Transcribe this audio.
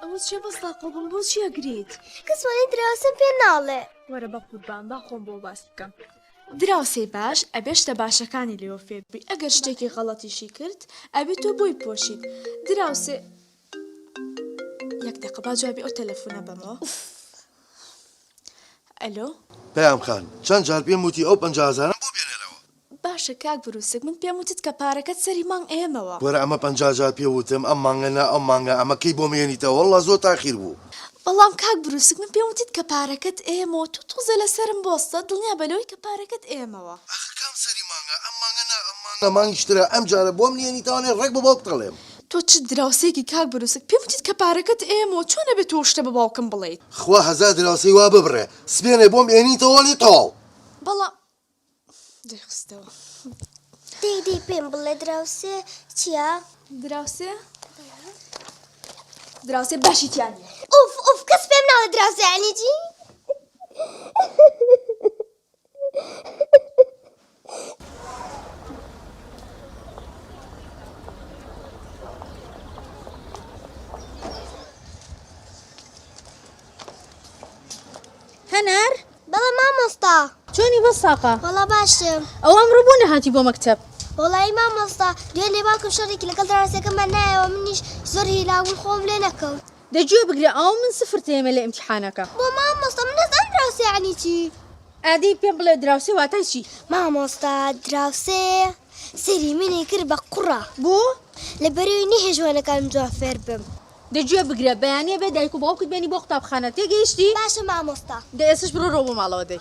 ئەوە چیە بەس تاقۆ بم بۆ چی ئەگریت کەس وانەی دراوسێم پێ ناڵێ وەرە بە قوربان با خۆم بۆ باس بکەم دراوسێی باش ئەبێ شتە باشەکانی لێوە فێر بی ئەگەر شتێکی غەڵەتیشی کرد ئەبێ تۆ بۆی پۆشیت دراوسێ یەک دەقە با جوابی ئەو تەلەفۆنە بەمەوە ئوف ئەلۆ پەیام خان چەند جار پێم وتی ئەو پەنجا هەزارەم بۆ بێنەرەوە باشە کاک بروسک من پێم وتت کە پارەکەت سەری مانگ ئەیەمەوە. وەرە ئەمە پەنجا جار پێ وتم ئەم مانگە نا ئەو مانگە ئەمە کەی بۆم یەنیتەوە واللە زۆر تاخیر بوو. بەڵام کاک بروسک من پێم وتت کە پارەکەت ئەیەمەوە تۆ تۆزێ لەسەرم بۆستە دڵنیا بە لەوەی کە پارەکەت ئەیەمەوە. ئاخر کام سەری مانگە ئەم مانگە نا ئەم مانگە مانگیش ترە ئەم جارە بۆم نیەنیتەوانێ ڕێک بە باوکت ئەڵێم. تۆ چ دراوسێکی کاک بروسک پێم وتت کە پارەکەت ئەیەمەوە چۆن ئەبێ تۆ ئەو شتە بە باوکم بڵێیت. خوا هەزار دراوسێی وا ببڕێ سبێنێ بۆم ئەیەنیتەوانێ تەواو. بەڵام دەیخستەوە. دەی دەی پێم بڵێ دراوسێ چییە؟ دراوسێ دراوسێ باشی تیا نییە. ئوف ئوف کەس پێم ناڵێ دراوسێ یانی چی؟ هەنار بەڵێ مامۆستا. چۆنی بۆ ساقە؟ وەڵا باشم. ئەوە ئەمڕۆ بۆ نەهاتی بۆ مەکتەب؟ وەڵایی مامۆستا دوێنێ لە باوکم شەڕێکی لەگەڵ دراوسێکەمان نایەوە منیش زۆر هیلاک بووم خۆم لێ نەکەوت. دە گوێ بگرە ئەوە من سفر تێمە لە ئیمتیحانەکە. بۆ مامۆستا من نازانم دراوسێ یەعنی چی. ئادەی پێم بڵێ دراوسێ واتای چی؟ مامۆستا دراوسێ سەیری منی کرد بە قوڕە. بۆ؟ لەبەرئەوەی نەیهێشت وانەکانم جوان فێر بم. دە گوێ بگرە بەیانیە بێ دایک و باوکت بێنی بۆ قوتابخانە تێگەیشتی؟ باشە مامۆستا. دە ئێستش بڕۆ ڕۆ بۆ ماڵەوە دەی.